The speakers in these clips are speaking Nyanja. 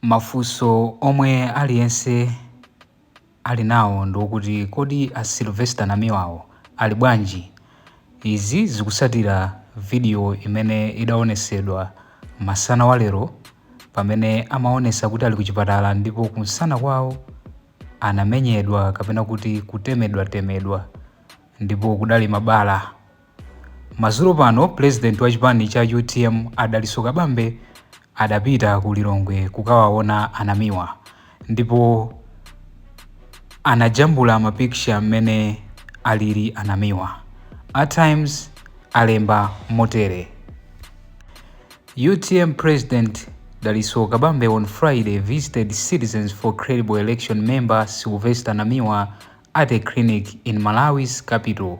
Mafunso omwe aliyense ali nawo ndi okuti kodi a Sylvester Namiwawo ali bwanji? Izi zikusatira video imene idaonesedwa masana wa lero pamene amaonesa kuti ali kuchipatala ndipo kumsana kwawo anamenyedwa kapena kuti kutemedwa temedwa ndipo kudali mabala. Madzulo pano president wa chipani cha utm a Dalitso Kabambe adapita ku Lilongwe kukawaona a Namiwa ndipo anajambula mapicture mmene alili a Namiwa. A Times alemba motere. UTM President Dalitso Kabambe on Friday visited Citizens for Credible Election member Sylvester Namiwa at a clinic in Malawi's capital,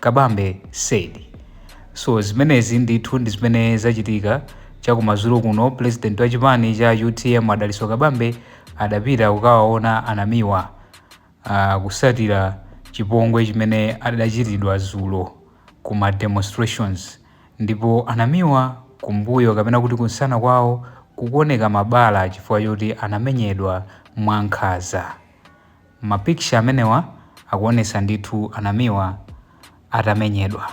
Kabambe said. So zimenezi ndithu ndi zimene zachitika. Cha kumadzulo kuno, president wa chipani cha utm a Dalitso Kabambe adapita kukawaona a Namiwa kusatira chipongwe chimene adachitidwa dzulo ku ma demonstrations ndipo a Namiwa kumbuyo kapena kuti kumsana kwawo kukuoneka mabala chifukwa choti anamenyedwa mwankhanza. Ma picture amenewa akuonesa ndithu a Namiwa atamenyedwa.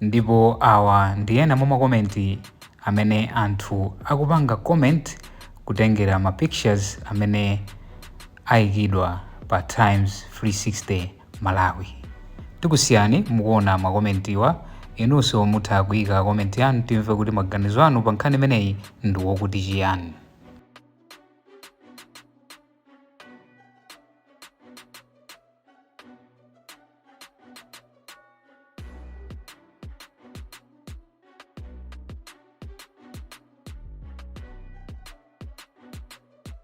Ndipo awa ndi ena mwa ma comment amene anthu akupanga comment kutengera ma pictures amene aikidwa pa Times 360. Malawi. Tikusiyani mukuona ma commentwa, inunso mutha kuika comment yanu timve kuti maganizo anu pa nkhani imeneyi ndi wokuti chiyani.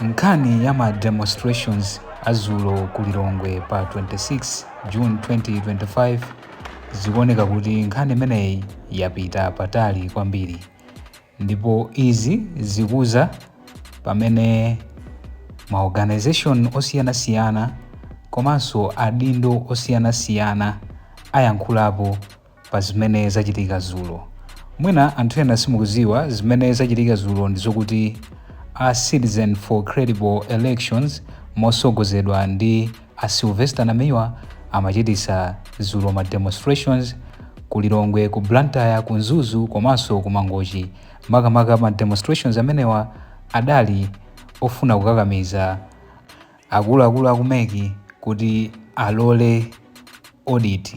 nkhani ya ma demonstrations a zulo ku lilongwe pa 26 june 2025 zikuoneka kuti nkhani imeneyi yapita patali kwambiri ndipo izi zikuza pamene ma organization osiyanasiyana komanso adindo osiyanasiyana ayankhulapo pa zimene zachitika zulo. Mwina anthu ena simukuziwa zimene zachitika zulo ndi zokuti a Citizen for Credible Elections mosogozedwa ndi A Sylvester Namiwa amachitisa dzulo ma demonstrations ku Lilongwe, ku Blantyre, ku Mzuzu komaso ku Mangochi. Makamaka ma demonstrations amenewa adali ofuna kukakamiza akuluakulu aku MEC kuti alole audit.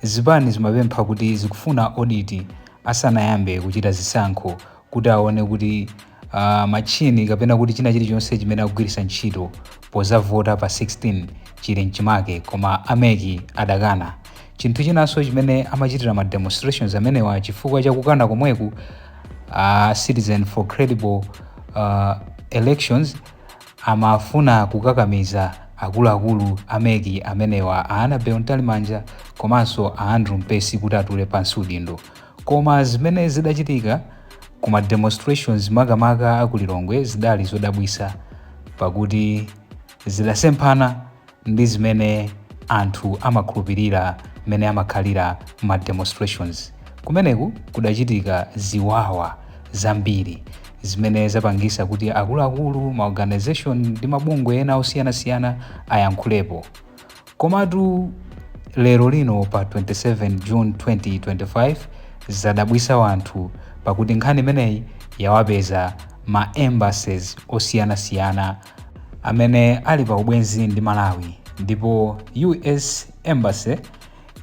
Zipani zimapempha kuti zikufuna audit asanayambe kuchita zisankho kuti aone kuti uh, machine kapena kuti china chilichonse chimene agwiritsa ntchito pozavota pa 16 chili mchimake koma a MEC adakana chinthu chinanso chimene amachitira ma demonstrations amenewa chifukwa chakukana komweku uh, citizen for credible uh, elections Amafuna kukakamiza akuluakulu a MEC amenewa a Annabel Mtalimanja komanso a Andrew Mpesi kuti atule pansi udindo. Koma zimene zidachitika ku ma demonstrations makamaka a ku Lilongwe zidali zodabwisa pakuti zidasemphana. ndi zimene anthu amakhulupirira mmene amakhalira ma demonstrations kumeneku kudachitika ziwawa zambiri zimene zapangisa kuti akuluakulu, ma organisation ndi mabungwe ena osiyanasiyana ayankhulepo komatu lero lino pa 27 June 2025 zadabwisa wanthu pakuti nkhani imeneyi yawapeza ma embassies osiyanasiyana amene ali pa ubwenzi ndi Malawi ndipo US Embassy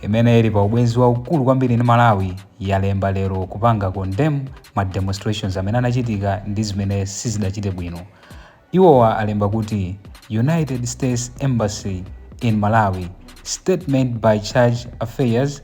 imene ili pa ubwenzi waukulu kwambiri ndi Malawi yalemba lero kupanga condemn ma demonstrations amene anachitika ndi zimene sizidachite bwino. Iwowa alemba kuti United States Embassy in Malawi Statement by Charge Affairs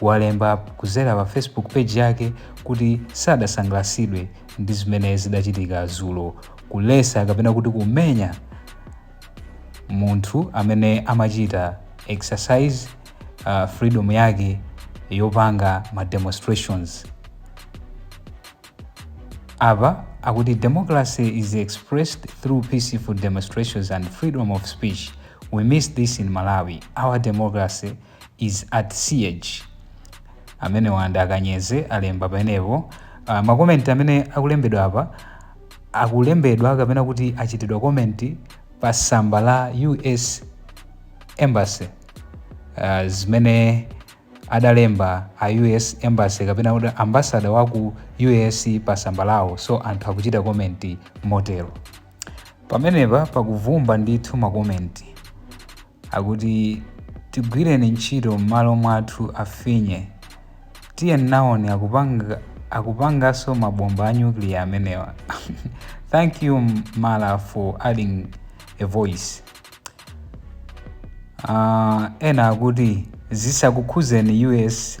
walemba kuzera pa Facebook page yake kuti sadasangalasidwe ndi zimene zidachitika zulo kulesa kapena kuti kumenya munthu amene amachita exercise uh, freedom yake yopanga ma demonstrations apa akuti democracy is expressed through peaceful demonstrations and freedom of speech we miss this in malawi our democracy is at siege amenewa ndi a Kanyeze alemba pamenepo uh, makomenti amene akulembedwa apa akulembedwa kapena kuti achitidwa komenti pa samba la us embassy uh, zimene adalemba a us embassy kapena kuti ambasada wa ku us pa samba lawo so anthu akuchita komenti motero pamenepa pakuvumba ndithu makomenti Akuti tigwireni ntchito mmalo mwathu afinye. Tiye nawoni, akupanga akupangaso ma bomba a nuclear amenewa. Thank you Mala for adding a voice. Uh, ena akuti zisakukhuzeni US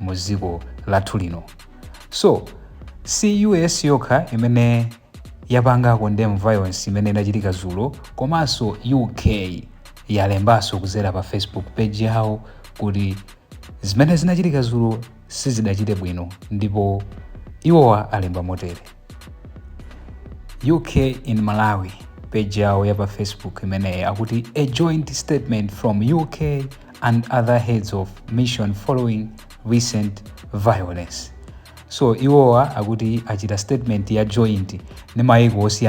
mu dziko lathu lino so si US yokha imene yapanga condemn violence imene inachitika dzulo komanso UK yalembanso kuzera pa Facebook page yawo kuti zimene zinachitika dzulo sizidachite bwino ndipo iwowa alemba motere UK in Malawi page yawo ya pa Facebook imeneyo akuti a joint statement from UK and other heads of mission following recent violence so iwowa akuti achita statement ya joint ndi mayiko osiyana